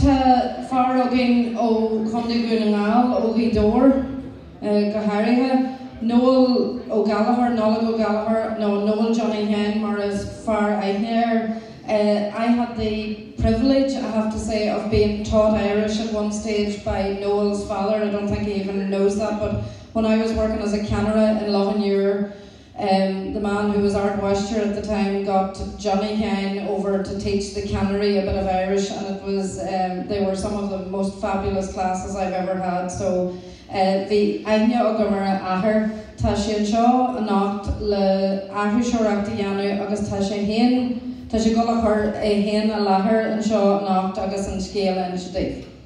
Tá fear againn ó Chontae Dhún na nGall, ó Ghaoth Dobhair go háirithe, Noel Ó Gallchóir, Nollaig Ó Gallchóir, nó Noel Johnny Sheáin mar is fearr aithne air. I had the privilege, I have to say, of being taught Irish at one stage by Noel's father, I don't think he even knows that, but when I was working as a ceannaire in Loch an Iúir, the man who was Ard Mháistir at the time got Johnny Sheáin over to teach the ceannairí a bit of Irish and it was, they were some of the most fabulous classes I've ever had so bhí aithne agam ar a athair. Tá sé anseo anocht le aithriseoireacht a dhéanamh agus tá sé féin, tá sé dhul a chur é féin i láthair anseo anocht agus an scéal a inse daoibh.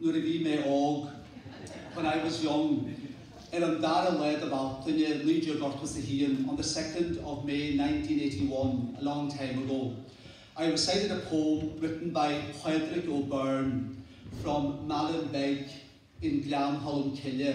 Nuair a bhí mé óg, When I was young, Ar an dara lá de Bhealtaine, naoi déag ochtó 's a haon, On the second of May, nineteen eighty-one, a long time ago, I recited a poem written by Pádraig Ó Beirn from Malin Beg in Gleann Cholm Cille,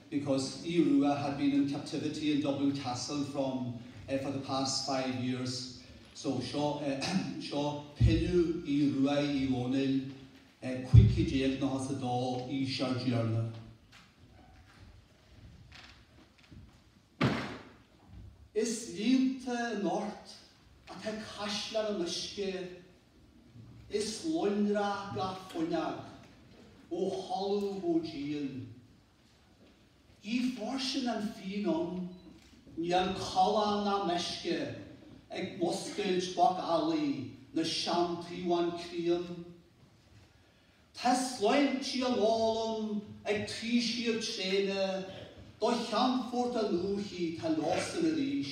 because Aodh Rua had been in captivity in Dublin Castle from for the past five years So seo seo Pilleadh Aoidh Ruaidh Uí Dhónaill, 1592 aois ár dTiarna. Is líonta anocht atá Caisleán an Uisce, is lonrach gach fuinneog ó thalamh go díon. Gidh fairsing an fíon ann, níl callán ná meisce ag múscailt macalla na seantaobhán críon. Tá sláintí á n-ól ann ag taoisigh tréine do cheannphort a ndúichí tá leosan arís.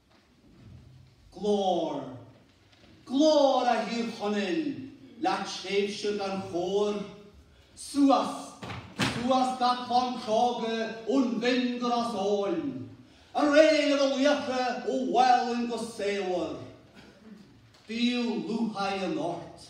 Glóir. Glóir a Thír Chonaill, le tréimhse gan chóir. Suas, suas gach clann chróga ón bhFinn go Ros Eoghain. Ar aghaidh libh a laochra ó Mhálainn go Samhair. Bíodh lúcháir anocht.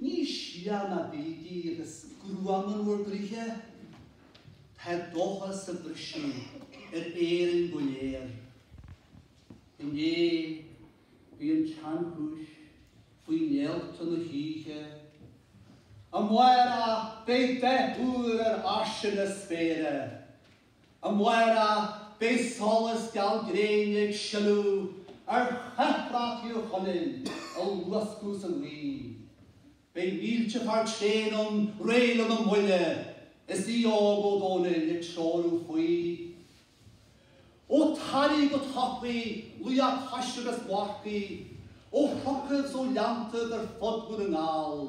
Níos sia ná bígí agus gruaim in bhur gcroíthe, tá dóchas ag briseadh ar Éirinn go léir. Inné, bhí an tseanchúis faoi néalta na hoíche. Amárach, beidh beatha úr ar ais ina spéire, Amárach, beidh solas geal gréine ag sileadh ar chathbhrat Thír Chonaill á luascadh sa ngaoth. Beidh mílte fear tréan ann réidh lena mbuille is Aodh Óg Ó Dónaill ag treorú faoi. Ó Taraí go Toraí, laochra coise agus marcaigh, ó chnocaibh 's ó ghleanntaibh ar fud Dhún na nGall.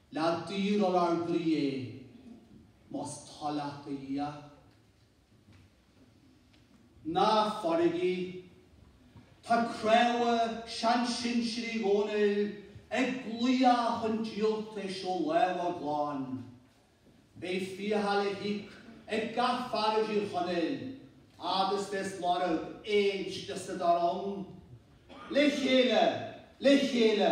Leag Dia ar ár gcroí é, más toil leat, a Dhia. Ná fágaigí í. Tá craobha seansinsir Uí Dhónaill ag glaoch chun díoltais ó lámha a gclann. Beidh fiacha le híoc ag gach fear i dTír Chonaill agus bheas lorg éisc de sna dá rang. Le chéile! Le chéile!